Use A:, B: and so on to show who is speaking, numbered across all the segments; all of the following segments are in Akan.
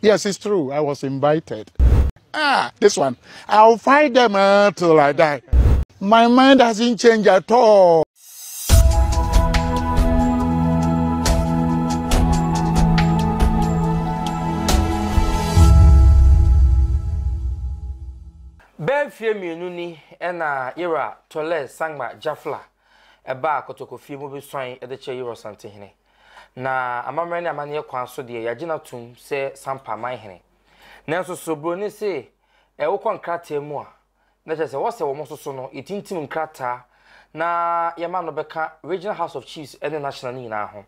A: Yes, it's true. I was invited. Ah, this one. I'll fight them uh, till I die. My mind hasn't changed at all.
B: Bɛɛ mfeɛ mmienu ni ɛna Ira Tole Sangma Jafla ɛbaa Kotokofie mu bɛsuan de kyerɛ Ira Ɔsantehene. Na amammerɛ ne amanneɛ kwan so deɛ, yɛagye no atom sɛ Sampa man hene. Nanso so buroni se eh, wokɔ nkrataa mu a, na kyerɛ sɛ wɔsɛ wɔn so so no, yɛtintim nkrataa na yɛma no bɛka Regional House of Chiefs ne National no nyinaa ho.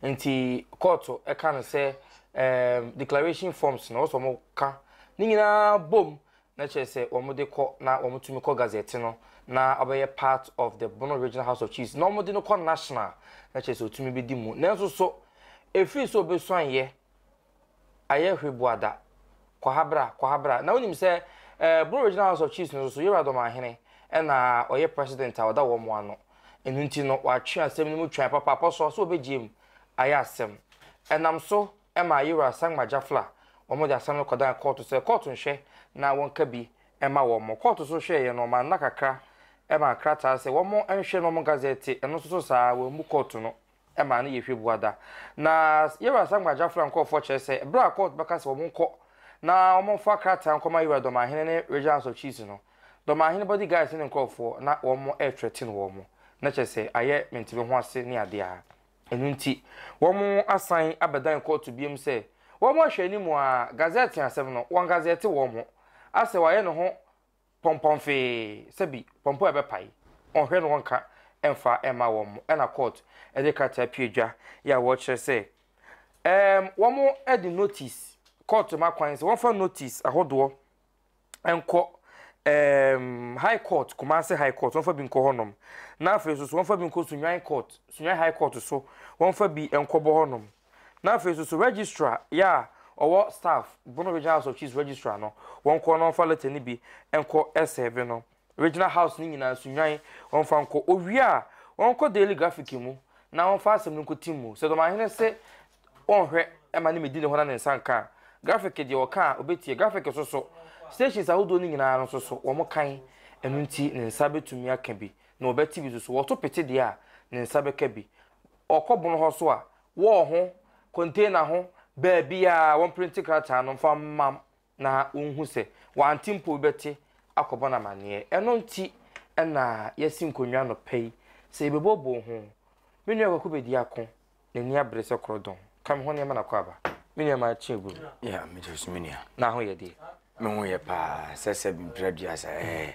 B: Nti kɔɔto ka no sɛ eh, declaration forms no wɔsɛ wɔn ka ne nyinaa bom na kyerɛ sɛ wɔn de kɔ na wɔn tumi kɔ gazette no na ɔbɛyɛ part of the Bono Regional House of Chiefs na wɔn de no kɔ national na kyerɛ sɛ otumi bi di mu nanso so efiri sɛ obesuan yɛ ayɛ hweboada kwahabra kwahabra na wonim sɛ eh, Bono Regional House of Chiefs no so yɛwura dɔmahene ɛna ɔyɛ president a ɔda wɔn ano ɛnu nti no wɔatwe asɛm no mu twan papaapa so so obegye mu ayɛ asɛm ɛnam so ɛmaa Ayera Asangma Jaffla wɔn de asɛm no kɔdan kɔɔto sɛ kɔɔto nhwɛ na wɔnka bi mma wɔn. Kɔɔto so hwɛeɛ no wɔmaa nna kakra maa krataa sɛ wɔn nhwɛ na wɔn gazɛte, ɛno nso so saa ara wɔammu kɔɔto no maa no yɛ hwɛ bua da. Na Ayera Asangma Jaffla nkorɔfoɔ kyerɛ sɛ berɛ a kɔɔto bɛka sɛ wɔn nkɔ na wɔmfa krataa nkɔma Ayera Dɔmahene ne Regional House of Chiefs no, Dɔmahene body guards ne ne nkorɔfoɔ na wɔn ɛrethreaten wɔn, na kyerɛ sɛ ayɛ mentimi ho ase ne adeɛ a. Ɛno nti, wɔasan abɛdan kɔɔto bio sɛ wɔahwɛ anim ara, gazɛte asɛm no, wɔagazɛte wɔn ho. Assew ayɛ ne ho pɔmpɔmfee sɛ bi pɔmpɔ a ɛbɛpae, ɔnhwɛ na ɔnka mfa mma wɔn, ɛnna kɔɔto de krataa pue dwa yi a wɔkyerɛ sɛ, ɛɛm, wɔde notice, kɔɔto ma kwan sɛ wɔmfa notice ahodoɔ, nkɔ um, high court kumase high court wɔmfa bi nkɔ hɔnom na afei nso so wɔmfa bi nkɔ sunwan court sunwan high court so wɔmfa bi nkɔbɔ hɔnom na afei nso so registrar yɛ a ɔwɔ staff bono regional house of chiefs registrar no wɔnkɔ na wɔmfa letter no bi nkɔ ɛsɛɛve no Regional House no nyinaa nso nnwan, wɔmfa nkɔ. Owie a, wɔnkɔ Daily Graphic mu na wɔmfa asɛm no nkɔtim mu. Sɛ Dɔmahene se ɔnhwɛ mma ne medi ne hɔ na ne nsa nka a, Graphic deɛ ɔka a, ɔbɛtie. Graphic nso so, stations ahodoɔ no nyinaa no nso so, wɔkan. Ɛno nti, ne nsa bɛtumi aka bi, na wɔbɛte bi nso so. Wɔto pete deɛ a, ne nsa bɛka bi. Ɔkɔ bon hɔ nso a, wall ho, container ho, baabiara, wɔmprinte krataa no mfa mma na wonhu sɛ wɔante mpo wobɛte akɔbɔ no amanneɛ. Ɛno nti na yɛasi nkonnwa anɔpa yi sɛ yɛbɛbooboo ho. Me nua Kwaku bɛdi ako, n'ani abere sɛ korɔdɔn. Ka me ho nneɛma na kɔ aba. Me nua ma kye agu no. Yeah, megye so me
C: nua. N'ahoyɛ deɛ?
B: Me ho yɛ paa,
C: sɛsɛb mprɛ aduasa, ɛɛ.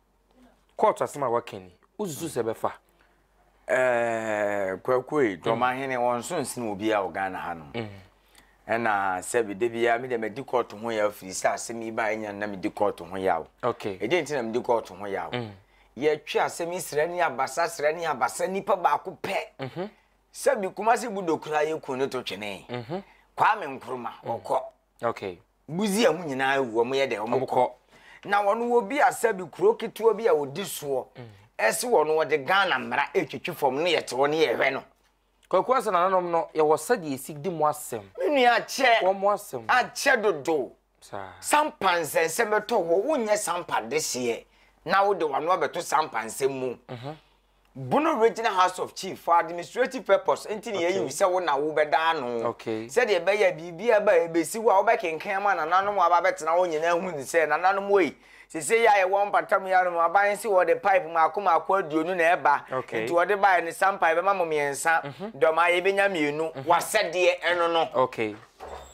B: court asɛm a waka ni wosusu sɛ bɛfa ɛɛ
C: kwakuei dɔmahene wɔn nso nsen obiara wɔ ghana ha nom mm. ɛna sɛbi da biara me deɛ madi court ho yaw firi sɛ asɛm yi baa ɛnya na medi court ho yaw ɛdeɛ nti na medi
B: court
C: ho yaw mm. yɛtwe asɛm yi srɛ ne abasa srɛ ne abasa nipa baako pɛ mhm. sɛbi kumase bu dokura yɛ kun ne to twene mhm. kwame nkroma mm. ɔkɔ
B: Busia mu nyinaa
C: awu, wɔyɛ dɛ, wɔkɔ. Na wɔn wɔ bi asa bi, kuro ketewa bi a wɔdi soɔ, ɛse wɔn wɔde Ghana mmara ɛtwitwi fam no yɛte hɔ no yɛhwɛ no. Kwaku Asa nananom
B: no yɛwɔ sɛdeɛ ɛsi di mo asɛm. Me nua akyɛ, akyɛ dodo.
C: Sampa nsɛnsɛm bɛtɔ hɔ, wonyɛ sampa dehyeɛ na wode wano abɛto sampa nsɛm mu. Bono Regional House of Chiefs for administrative purpose nti na yɛayi wo sɛ wo na wobɛda ano sɛdeɛ ɛbɛyɛ a
B: biribiara
C: ba a ɛbɛsi wo a wobɛkenkan ama nananom a aba abɛtena hɔ nyinaa ahu ne sɛ nananom ei sese yi a yɛwɔ mpatamu yi ano no aban nsi wɔde pipe mmaako mmaako aduonu na ɛba nti wɔde baeɛ ne sampa yɛbɛma mo mmiɛnsa mhm. dɔm a yɛbɛnya mmienu mhm. wasɛdeɛ ɛno no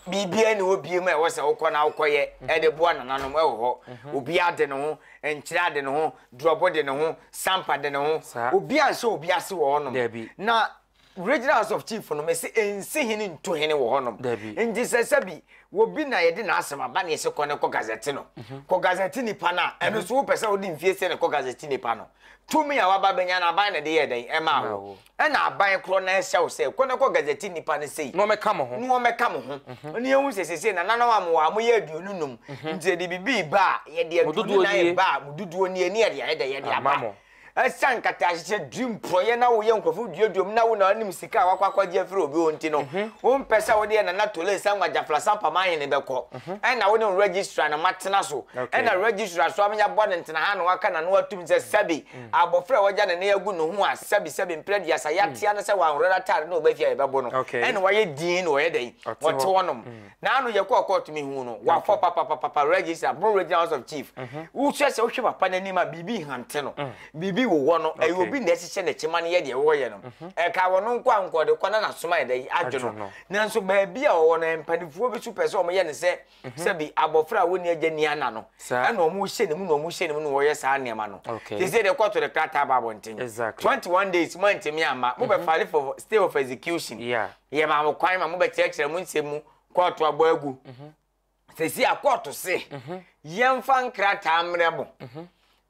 B: biribiara ne
C: obie mu a ɛwɔ sɛ wokɔ na wokɔyɛ mhm. ɛde boa nananom ɛwɔ hɔ obiara de ne ho nkyerɛ ade ne ho Drɔbo de ne ho, Sampa de ne ho, obiara nhyɛ obi ase wɔ hɔnom. Na Regional House of Chief no, mese ɛnsi hene ntu hene wɔ hɔnom. Nti sɛ sɛbi obi na yɛde n'asɛm aba na yɛse kɔ ne kɔ gazɛte no, kɔ gazɛte nipa no a, ɛno nso wopɛ sɛ wode mfie sɛ ne kɔ gazɛte nipa no, tumi a waba abɛnya no aban na ɛde yɛɛ dɛn? Ɛmaa wo. Ɛna aban korɔ no ahyɛ wo sɛ, Kɔ na kɔ gazɛti nnipa no sei. Na wɔmmɛka mo ho. Na
B: wɔmmɛka mo ho. Ne
C: yɛhu sɛ seesei nananom a mowɔ ha, moyɛ aduonu nnum. Nti sɛ yɛde biribi reba a, yɛde aduonu nnan reba a, mo dodoɔ nie, ne yɛde ayɛ dɛ yɛde aba. Ɛsiane nkataahyehyɛ, tirim porɔeɛ na woyɛ nkurɔfo duadua mu na wo na wonim sika a woakɔ akɔgye afiri obi hɔ nti no, wompɛ sɛ wode yɛ Nana Tole Sangwa Gyafla Sampam Ahene bɛkɔ. Ɛna wo ne Registrar no moatena so. Ɛna Registrar nso ama yɛabɔ no ntena ha na waka n'ano atom sɛ sɛbe abofra a wagya ne nan agu ne ho a sɛbisɛbi mpere aduasa yɛatea no sɛ wanhoro n'atade na ɔba fie a yɛbɛbo no ɛna wayɛ dinn na ɔyɛ dɛn ɔte hɔnom na ano yɛkɔɔ kɔɔto mehuu no wafɔ papapapapa register boro regional house of chief wohwɛ sɛ wohwɛ papa n'anim a biribi hante no biribi wowɔ no ɛyɛ obi na ɛhyehyɛ n'akyi ma no yɛ deɛ wɔyɛ no ɛka wɔ no nko a nkɔde kɔ na n'asoma yɛ dɛn adwo no nanso baabi a ɔwɔ no mpanifoɔ bi so pɛ sɛ wɔyɛ no sɛ Sɛbi abɔfra a ɔnni agya nni ana no, ɛna wɔhyɛ ne mu na wɔhyɛ ne mu na wɔyɛ saa nneɛma no. Te sɛ deɛ kɔto ne krataa ba abɔnten. Twenty one days moantumi amma, mobɛfale for stay of execution. Yɛmaa mo kwan ma mobɛkyerɛkyerɛ mo nsɛm mu, kɔɔto abɔ agu. Seesei a kɔɔto se yɛmfa nkrataa mmrɛ mo.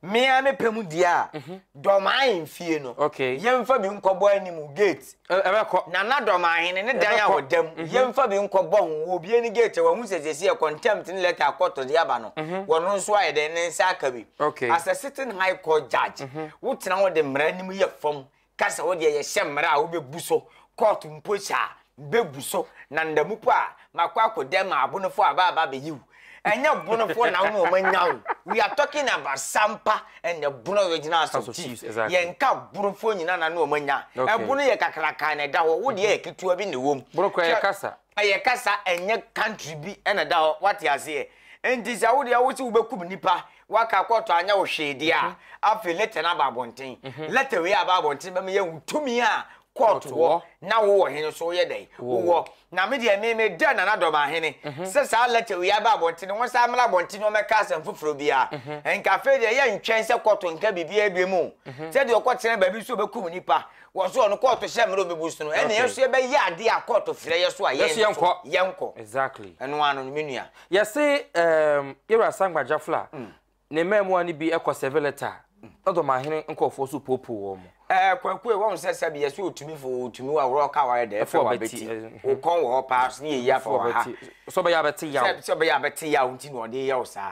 C: Me ara me pɛ mu deɛ a, Dɔmahe mfie no, yɛmfa bi nkɔbɔ anim, gate. Ɛbɛkɔ. Nana Dɔmahe ne ne dan a ɔda mu, yɛmfa bi nkɔbɔ ho. Wɔbue ne gate a, wɔahu sɛ seesei contempt ne letter akɔtɔ de aba no, wɔno nso ayɛ dɛn, ne nsa aka bi. As a sitting High Court judge, wotena hɔ de mmara anim yɛ fam ka sɛ wodeɛ yɛhyɛ mmara a wobɛbu so, kɔɔto mpo hyɛ a bɛbu so, na nna mu mpo a makɔ akɔ dɛm a abonofoɔ aba aba abɛyi wo. Ɛnyɛ bonofoɔ na wo ne wɔn anya wo. We are talking about Sampa and the Bono Regional House of Chiefs. Yɛnka bonofoɔ nyinaa na ne wɔn anya. Ɛbono yɛ kakrakaa na ɛda hɔ, wodeɛ yɛ ketewa bi na ɛwɔ mu. Bono kura yɛ kasa.
B: Ɛyɛ kasa ɛnyɛ country bi na ɛda hɔ wate aseɛ nti sɛ wodeɛ wose wobɛkum nnipa waka court anyɛ wo hwee deɛ a afei letter no aba abɔnten letter wei aba abɔnten bɛma yɛahu tumi a court wɔ na wowɔ he nso woyɛ dɛn wowɔ na me deɛ me meda Nana Dɔm Ahene sɛ saa letter wei aba abɔnten no wɔn san mmra abɔnten na wɔmmɛka asɛm foforɔ biara nka afei deɛ yɛntwɛn sɛ court nka biribiara biam o sɛdeɛ ɔkɔtena baabi nso ɔbɛkum nnipa Wɔ so no kɔɔto hyɛ mmerɛ ɔbɛbu so no ɛna yɛso yɛbɛyɛ adeɛ a kɔɔto frɛ yɛ so a yɛn nso yɛnkɔ exactly ɛno ano no menua
C: yɛse
B: um, yɛwura sangba jafla mm. ne mmaamua no bi ɛkɔ sɛve lɛta mm. na dɔm ahene nkɔɔfoɔ so poopoo wɔ mu ɛɛ kwaku ɛ wɔn sɛ
C: sɛbi yɛsɛ otumi fo otumi wa wɔrɔ ka wɔyɛ dɛ ɛfɛ wɔ abɛti okɔn wɔ hɔ paa so ne yɛ yi afɔ wɔ ha sɛ ɔbɛyɛ abɛti
B: yaw sɛ ɔbɛyɛ abɛti yaw
C: nti na ɔde yaw saa.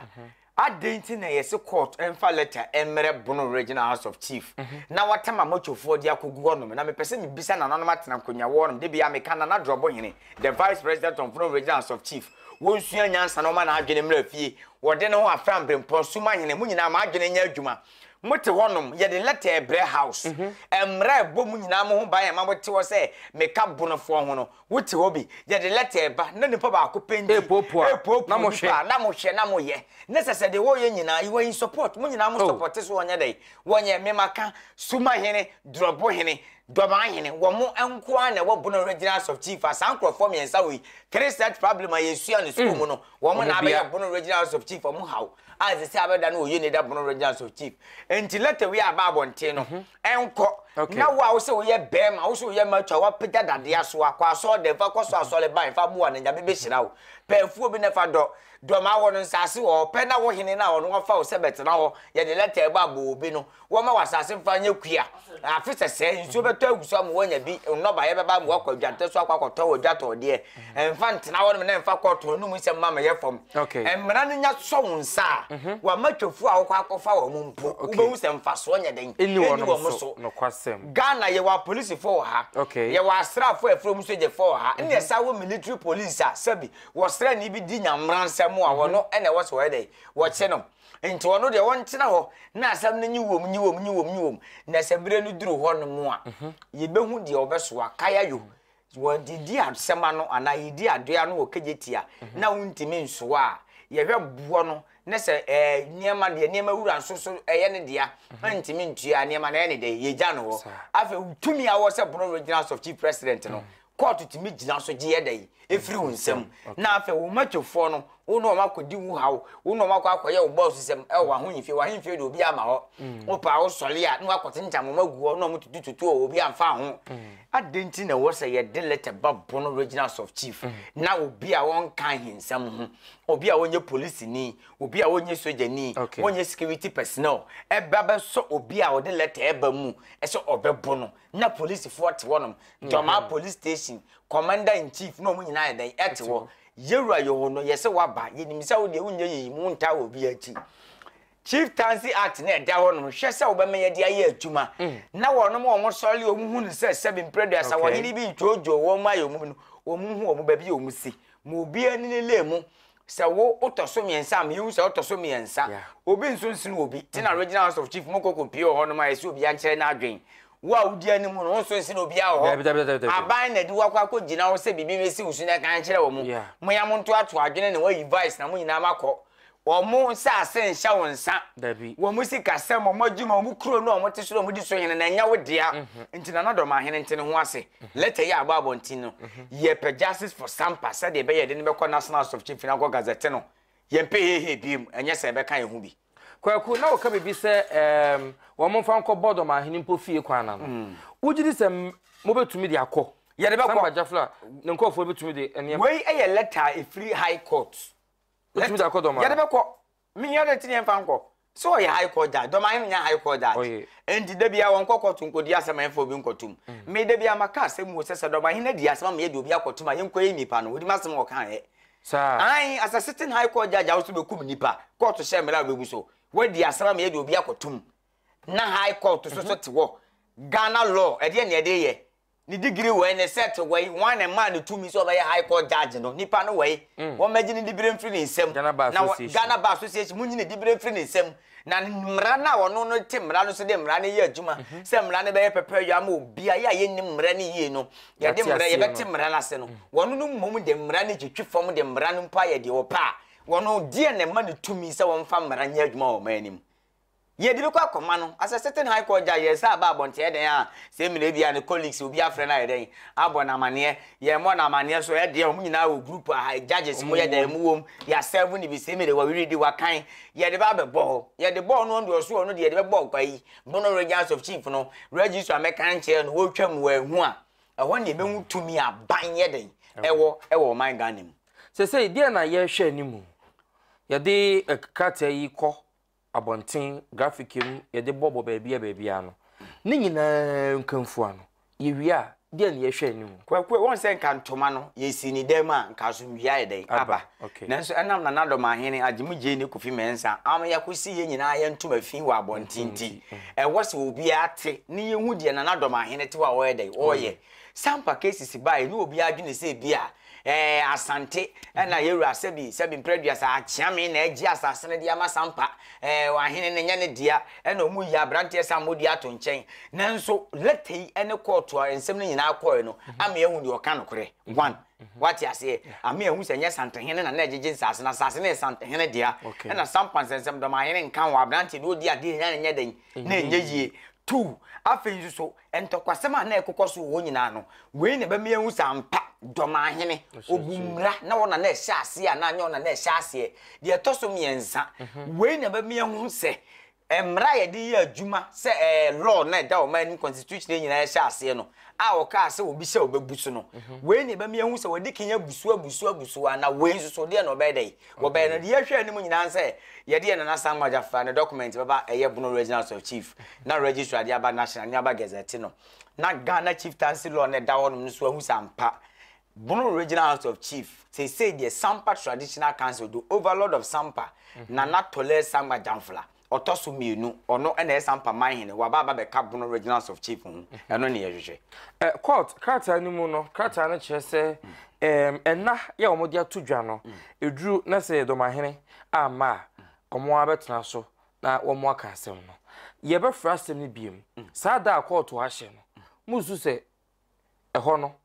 C: Adɛn nti na yɛse court mfa letter mmrɛ Bono Regional House of Chief na wɔatam Amochofoɔ de akɔgu hɔnom? Na mepɛ sɛ mebisa nananom atena nkonnwa wɔ hɔnom, dabiaa meka Nana Drɔbohene, the Vice President of Bono Regional House of Chief, wɔnsua nyansa na wɔma n'adwene mmra fie, wɔde ne ho afra mberempɔn, Sumahene, mo nyinaa mo adwene nyɛ adwuma, mote hɔnom, yɛde letter rebrɛ House, mmra ɛbɔ mo nyinaa mo ho ban a ɛma mote hɔ sɛ meka Bonofoɔ ho no, Wote hɔ bi, yɛde lɛtɛ reba, na nipa baako pɛ nti Repuapua, na repuapua mohwɛ. nipa a, na mohwɛ na moyɛ. Na sɛ sɛ deɛ wɔreyɛ nyinaa, you are in support, mo nyinaa mo Oh. sɔpɔte so wɔnyɛ dɛn, wɔnyɛ. Me maka, Sumahene, Drɔbohene, Dɔmahene, wɔn nko ara na ɛwɔ Bono Regional House of Chief a, saa nkorɔfoɔ mmiɛnsa wei, three such problem a yɛsua no sukuu mu no, wɔn Wɔn na abɛyɛ bia. Bono Regional House of Chief, wɔn haw a ɛsɛ sɛ abɛda no wɔ Uneda Bono Regional House of Chief. Nti lɛtɛ wei a aba abɔnten no, Ɛnkɔ. Okay. Na wo a wosɛ woyɛ bɛrima, wosɛ woyɛ mature, wapagya dadeɛ asoa, kɔ asɔɔdan, fa kɔ so asɔre bae, fa boa no, Nyame bɛhyira wo. Pɛ afuo bi na fa dɔ. Dɔ ma wɔ no nsase wɔ hɔ, pɛ na wo hene no a ɔno wafa wo sɛ bɛtena hɔ, yɛde lɛta ɛbɔ abɔ obi no, wɔmma w'asase mfa nyɛ kua. Afe sɛsɛɛ, nsuo bɛtɔ agu so ama woanya bi, nnɔbaeɛ bɛba ama woakɔ adwantɛ so akɔ akɔtɔ wɔ dwatɔɔdeɛ. ɛmfa ntena hɔ nom na ɛmfa kɔɔto hɔ nom nsɛm mma mɛyɛ fam mmara no nya sɔ wo nsa a mhm. wama twafo a wokɔ akɔfa wɔ mo mpo wobɛhu sɛ mfasoɔ nyɛ dɛn ɛni wɔ mo so
B: ghana yɛwɔ apolisifoɔ
C: wɔ ha yɛwɔ asraafoɔ ɛfrɛ mu sogyɛfoɔ wɔ ha ne mhm. ɛsa wɔ military police a sɛbi wɔsrɛ ne bi di nyamera nsɛm a mhm. wɔno ɛna ɛwɔ sɛ wɔyɛ dɛn wɔkye no nti ɔno deɛ wɔntena hɔ na asɛm no nye wɔm nye wɔm nye wɔm nye wɔm na sɛ berɛ no duru hɔ no mu a yɛbɛhu deɛ wɔbɛsoa kaya yo Wɔdidi asɛm ano anaa yɛdi adoe ano wɔ kegyeti a na wontumi nsoa a, yɛhwɛ boɔ no na sɛ ɛɛ nneɛma deɛ nneɛma wura nso so ɛyɛ ne dea na ntumi ntua nneɛma na ɛyɛ ne dɛ yɛgya no hɔ. Afei tumi a wɔ sɛ Bono Regional Soft Chief President no kɔɔto tumi gyina so gye yɛ dɛ ɛfiri wo nsam na afei wo matwofoɔ no Wo ne wɔn akɔdi wo haw, wo ne wɔn akɔ akɔyɛ wo bɔɔso sɛm wɔ w'ahohemfie. W'ahohemfie de obi ama hɔ. Mm. Wo paa wo sɔre a na wakɔtentam wɔn agu hɔ na wɔn tutu tutu a obi amfa ho. Mm. Adɛn nti na ɛwɔ sɛ yɛde lɛtɛ ba Bono Regional Sub Chief mm. na obi a wɔnka ahensɛm ho, obi a wɔnyɛ polisini, obi a wɔnyɛ sojani, okay. wɔnyɛ security personnel, ɛba bɛsɔ obi a ɔde lɛtɛ ɛba mu ɛsɛ ɔbɛbo no na polisifoɔ te hɔ nom, Dɔmaa mm-hmm. police station, commander in chief na wɔn nyinaa yɛ dɛn ɛte hɔ. Yɛ wura yɛ hɔ no yɛ sɛ waba yɛ nim sɛ wo deɛ wo nyɛ yɛ yi mu ntaa wɔ bi akyi chief tansi act na ɛda hɔ nom hwɛ sɛ wobɛma yɛde ayɛ adwuma mm. na wɔnom wɔn sɔre wɔn hu no sɛ sɛbi mprɛduasa wɔn yene bi ntwoodwoo wɔn mu ayɛ wɔn no wɔn hu wɔn baabi a wɔn si ma obiara ne ne lee mu sɛ wo wotɔ so mmiɛnsa ma yɛhu sɛ wotɔ so mmiɛnsa obi nso nsene obi te na mm-hmm. regional house of chief mu kɔkɔ pie wɔ hɔ nom a ɛsɛ obiara nkyerɛ no adwen Wo a wudi anim no, wo nso nsen obiara wɔ hɔ. Dabi, dabi, dabi, dabi. Aban na ɛde wo akɔ akɔgyina hɔ sɛ biribi bɛsi wo so na ɛka nkyerɛ wɔn. Yeah. Moya montoatoa adwene na wɔayi vice na mo nyinaa makɔ. Wɔn nsase nhyɛ wo nsa. Dabi. Wɔn sikasɛm, wɔn adwuma, wɔn kuro no a wɔte so na wɔdi so hene na ɛnyɛ wo dea. Mhm. Nti Nana Dɔm ahene nte ne ho ase. Mhm. Lɛtɛ yi a abɔ abɔnten no, mhm. yɛpɛ justice for Sampa sɛdeɛ ɛbɛyɛ de no bɛkɔ National House of Chief na akɔ Gazette no. Yɛmpɛ hehe biem, ɛnyɛ sɛ ɛbɛka yɛn ho bi. Kwaku, na wɔka
B: biribi sɛ ɛɛm wɔmfa nkɔ bɔdɔm ahene mpo fie kwan no ano. Wogye di sɛ mobɛtumi de akɔ? Yɛde bɛkɔ. Samba Gyafla a ne nkurɔfoɔ no bɛtumi de nneɛma. Wei yɛ lɛta a
C: ɛfiri High Court. Wotumi de
B: akɔ dɔm ahene. Yɛde bɛkɔ.
C: Mehia dɛ nti ne yɛmfa nkɔ. Sɛ ɔyɛ High Court judge. Dɔm ahene nyɛ High Court judge. Ɔyɛ. Enti da biara wɔnkɔ kɔɔto nkɔdi asɛm a ɛmfa obi nkɔto mu. Me da biara maka asɛm mu o sɛ sɛ dɔm ahene adi asɛm ama yɛde obi akɔto mu a yɛnkɔyɛ nnipa no. Wɔnim asɛm a wɔka yɛ. Saa. Aane,
B: as a sitting
C: high court judge a wo so bɛkum nnipa, kɔɔto hyɛ mmara a wobɛbu so, woadi asɛm ama yɛde obi akɔtom, na high court so so te hɔ, Ghana law, ɛdeɛn na ɛde yɛ? Ne degree wɛi, ne cert wɛi, hwan na ɛmaa no tumi sɛ ɔbɛyɛ high court judge no, nnipa no wɛi, wɔmmɛgye ne diberɛ mfiri ne nsam, Ghana Bar Association, na Ghana
B: Bar
C: Association, monyini diberɛ mfiri ne nsam, Na mmara no a ɔno no te mmara no so de mmara no yɛ adwuma, sɛ mmara no bɛyɛ pɛpɛɛyɔ ama obi a, yɛ a yɛnnim mmara no yie no, yɛde mmara, yɛbɛte mmara no ase no. Wɔn no mmom de mmara no twitwi fam de mmara no mpo ayɛ deɛ wɔpɛ a, wɔn deɛn na ɛma no tumi sɛ wɔmfa mmara nyɛ adwuma wɔ ɔman no mu? Yɛde bi kɔ akɔma no, as a sitting high court judge, yɛsan ba abɔnten a, ɛyɛ dɛn a, sɛ mmira bi a, ne colleagues, obi afrɛ no ayɛ dɛn, abɔ no amanneɛ, Yɛ mɔ no amaneɛ so ɛdeɛ ɔmo nyinaa wɔ group aha judges mo yɛ dɛn mo wɔ mu yɛ asɛvo ne bi semi de wɔ weredi wɔ kan yɛ de ba bɛ bɔ hɔ yɛ de bɔ ɔno ɔno deɛ ɔso ɔno deɛ yɛ de bɛ bɔ ɔkwa yi bono regents of chief no registrar mɛ kan kyerɛ no wɔ twa mu wɔ ɛho a ɛhɔ ne ɛbɛ hu tumi a ban yɛ dɛn ɛwɔ ɛwɔ ɔman Ghana mu. Sɛsɛi deɛ na
B: yɛ hwɛ ne mu yɛ de krataa yi kɔ. abɔnten, grafik mu, yɛde bɔbɔ baabia baabia no, ne nyinaa nkamfua no, yɛwie a, deɛ ne yɛhwɛ anim? Kwaku, wɔn sɛ nka
C: ntoma no, yɛsi ne dan mu a, nka asomdwie ayɛ dɛn? Aba. Nanso ɛnam Nanadɔm Ahene, Agyemu Gyei ne Kofi Mensah ama yɛakosi yɛn nyinaa yɛn ntoma fi wɔ abɔnten nti, ɛwɔ sɛ obiara te ne yɛhu deɛ Nanadɔm Ahene te hɔ a ɔyɛ dɛn? Ɔyɛ. Sampa cases baeɛ ne obiara dwene sɛ ebia Ɛɛ, Asante, ɛna yɛn wura sɛbi, sɛbi mpere aduasa akyea me na agye asase no de ama Sampa, ɛɛ, ɔahene no nyɛ ne dea, ɛna ɔmu yi abranteɛ Sammodie ato nkyɛn. Nanso, lɛta yi ɛne kɔɔto a nsɛm no nyinaa kɔɔɛ no mhm. ame ahu deɛ ɔka nokorɛ, mhm. one, mhm. wate aseɛ, ame ahu sɛ nyɛ Santehene na na ɛgyegye nsase no, asase no yɛ Santehene dea, ɛna Sampa nsɛnsɛm dɔm ahene nka ho, abranteɛ deɛ ɔdi adeɛ nya ne nyɛ dɛn, na ɛnyɛ yie. Two, afei nso so, Ntɔkwasɛm a na ɛrekokɔ so wɔ hɔ nyinaa no, wei na ɛbɛma yɛahu sɛ ampa, Dɔmahene, ɔbu mmara, na ɔno na na ɛhyɛ aseɛ anaa nyɛ ɔno na na ɛhyɛ aseɛ. Deɛ ɛtɔ so mmiɛnsa, wei na ɛbɛma yɛahu sɛ mmara a yɛde yɛ adwuma sɛ ɛɛ law na ɛda ɔman anim, constitution no nyinaa ɛhyɛ aseɛ no, a ɔkaa sɛ obi hyɛ a ɔbɛbu so no, wei na ɛbɛma yɛahu sɛ wɔadi kan abu so abu so abu so anaa wei nso so deɛ na ɔbɛyɛ dɛn Wɔbɛyɛ no, deɛ ɛhwɛ anim nyinaa ne sɛ yɛde yɛn Nana Asamoah Jaffrah ne dɔkumɛnti bɛba ɛyɛ Bono Regional Soil Chief na Registrar de aba National ne aba Gazette no na Ghana Chieftaincy Law no a ɛda hɔ nom no so ahu sɛ ampa Bono Regional House of Chief seesei deɛ Sampa Traditional Council do Overlord of Sampa, Nana Tolɛɛ Samoah Jamflah. Ɔtɔ so mmienu, ɔno na ɛyɛ saa mpaman hene, waba aba bɛka Bono Reginals of Chief ho, ɛno ne yɛhwehwɛ. Eh, court, krataa
B: no mu no, krataa no kyerɛ sɛ eh, ɛna yɛ wɔn de ato dwa no, ɛduru mm. na sɛ dɔmahene amma a, wɔn mm. abɛtena so na wɔn aka asɛm no. Yɛbɛfrɛ asɛm no biem, mm. saa da a kɔɔto ahyɛ no, musu sɛ ɛhɔ no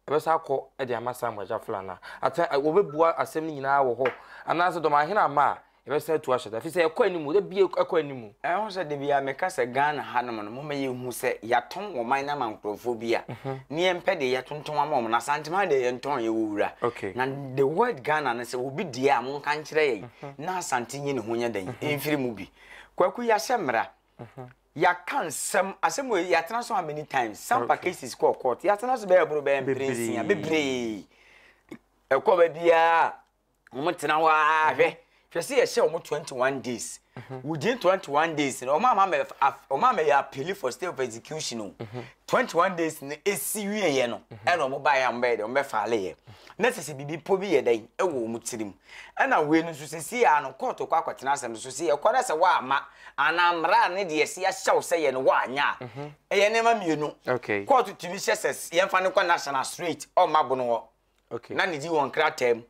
B: Ɛbɛsan akɔ de ama Samuel agya flan no a, ata a, wɔbɛbua asɛm no nyinaa wɔ hɔ. Anaasɛ dɔmahene amma a, yɛbɛsan atu ahyɛ da. Ɛfiri sɛ ɛkɔ anim, da bi ɛkɔ anim. Ɛho sɛ da biara meka
C: sɛ Ghana hanom no, momma yɛnhu sɛ yɛatɔn ɔman no ama nkurɔfoɔ bi a, na yɛmpɛ deɛ yɛtontɔn ama wɔn no. Asante man deɛ yɛntɔn, yɛwɔ wura. Na the word Ghana no, sɛ obi deɛ a, monka nkyerɛ yɛn na Asante nyi ne ho nyɛ dɛn mfiri mu bi. Kwaku, yɛahyɛ mmara. Yɛaka nsɛm, asɛm wei yɛatena so how many times? Sampa cases kɔɔ court, yɛatena so bɛyɛ boro bɛyɛ mpere nsia bebree. Ɛkɔ ba biara wɔn tena hɔ ara mhm. hwɛ hwɛ sɛ yɛhyɛ wɔn twenty one days. Mhm. Within twenty one days no wɔn ama mɛ wɔn ama yɛ appeal for stay of execution o. Mhm. Twenty one days no esi wie yɛ no ɛna wɔn ba yɛ wɔn bɛyɛ dɛ wɔn bɛ faale yɛ. Na sisi bibi po bi yɛ dɛ ɛwɔ wɔn tirim. Ɛna wei no nso sesei ara no kɔɔto kɔ akɔtena asɛm no so sɛ yɛkɔ na sɛ woamma anaa mmara a ne deɛ yɛsi ahyɛ wo sɛ yɛ no woanyɛ a, ɛyɛ nneɛma mmienu, kɔɔto tumi hyɛ sɛ yɛmfa no kɔ national straight ɔmma bono hɔ na ne di wɔ nkrataa mu.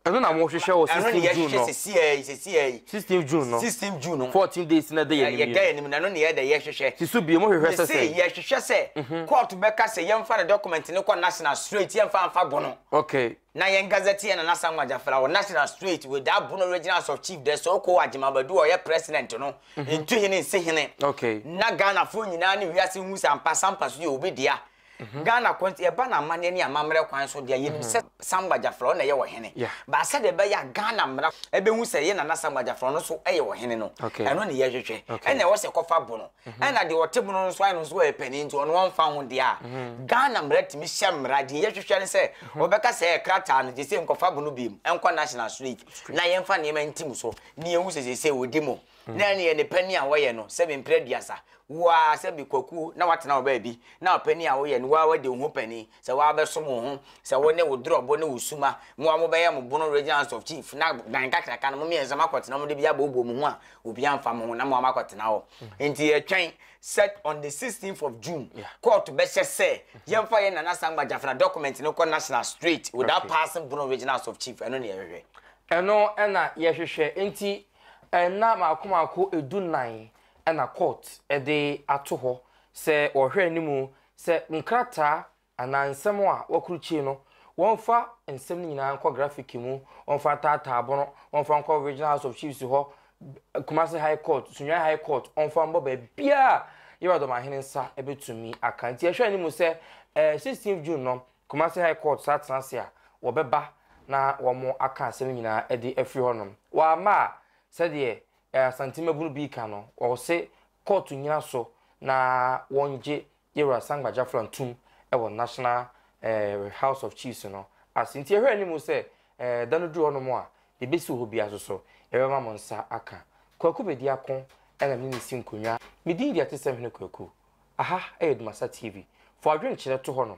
C: Ɛno na mohwehwɛ
B: wɔ 16 June no. Ɛno na yɛhwehwɛ sesei ara yi, sesei ara yi. 16 June no. 16 June no. 14 days
C: na ɛda yɛn anim yi.
B: Yɛda yɛn anim no, ɛno na
C: yɛda yɛhwehwɛ. Si so bie, mohwehwɛ sɛ sɛ.
B: Mese yɛhwehwɛ sɛ
C: kɔɔto bɛka sɛ yɛmfa ne document no kɔ national straight, yɛmfa mfa bono. Okay. Na yɛn
B: Gazetteer Nana
C: Asamoah Gyafra wɔ National Street with the Abono Regional House of Chief dɛ sɛ ɔkɔ wɔ Agyemang Badu a ɔyɛ President no, Ntuhene nsi hene, na Ghanafoɔ nyinaa ne wiase nhu sɛ ampa Sampa so yɛ obi dea. Ghana ko nti, ɛba no amanneɛ ne amammerɛ kwan so deɛ, yɛnim sɛ Sampa Gyafra ɔno na ɛyɛ ɔhene. But sɛdeɛ ɛbɛyɛ a Ghana mmara bɛhu sɛ yɛn Nana Asamoah Gyafra ɔno nso yɛ ɔhene no, ɛno na yɛhwehwɛ. Ɛna ɛwɔ sɛ ɛkɔfa Abono. Ɛna deɛ ɔte mono no nso ayɛ no nso ɔyɛ panin nti ɔno ɔmfa ho deɛ a, Ghana mmara tumi hyɛ mmara, deɛ yɛhwehwɛ ne sɛ wɔbɛka sɛ krataa no gyesɛ nkɔfa mono biom nkɔ National Street na yɛmfa nneɛma ntim so na yɛhu sɛ seesei wɔdi mo na ɛneɛ ne panin a wɔyɛ no sɛbi mprɛ aduasa, wo ara sɛbi Kwaku na woatena wo baabi na ɔpanin a woyɛ no wo ara woadi wo ho panin. Sɛ w'abɛsom wo ho sɛ wo ne wo drɔbo ne wo suma moa mo bɛyɛ mo bono regional house of chief na dan kakraka no mo miɛnsa mo akɔtena mo de bi aboobuo mo ho a obi anfa mo ho na moa mo akɔtena hɔ nti yɛ twɛn sɛ on the 16th of June court bɛhyɛ sɛ yɛn fa yɛn nana sangba gyafena document no kɔ national straight without passing bono regional house of chief ɛno na yɛhwehwɛ. Ɛno na
B: yɛhwehwɛ nti nna maako maako ɛdu nan ɛna court ɛde ato hɔ sɛ wɔhwɛ anim Sɛ nkrataa anaa nsɛm a wɔakrukye no, wɔmfa nsɛm no nyinaa nkɔ grafiki mu, wɔmfa ntaataa bono, wɔmfa nkɔ Regional House of Chiefs hɔ, Kumasi High Court, Sunyani High Court, wɔmfa mmɔ baabiara a Yehowa Dɔmahene nsa betumi aka. Nti ɛhwɛ anim sɛ ɛɛ 16th June no, Kumasi High Court saa tena ase a, wɔbɛba na wɔaka asɛm nyinaa de afiri hɔnom. Wɔamma a, sɛdeɛ Asante mmabunu bi reka no, wɔse Kɔɔto nnyina so na wɔngye Yera Sangbajafran tum wɔ National eh, House of Chiefs no ase. Nti yɛhwɛ anim sɛ eh, da no duru hɔnom a, yɛbɛsi hɔ biara so so, yɛbɛma mo nsa aka. Kwaku Bedi Ako na me ne si nkonnwa. Me din deɛ ɛte sɛ Hene Kwaku. Aha yɛ Dumasa TV. Fa w'adwenkyerɛ to hɔnom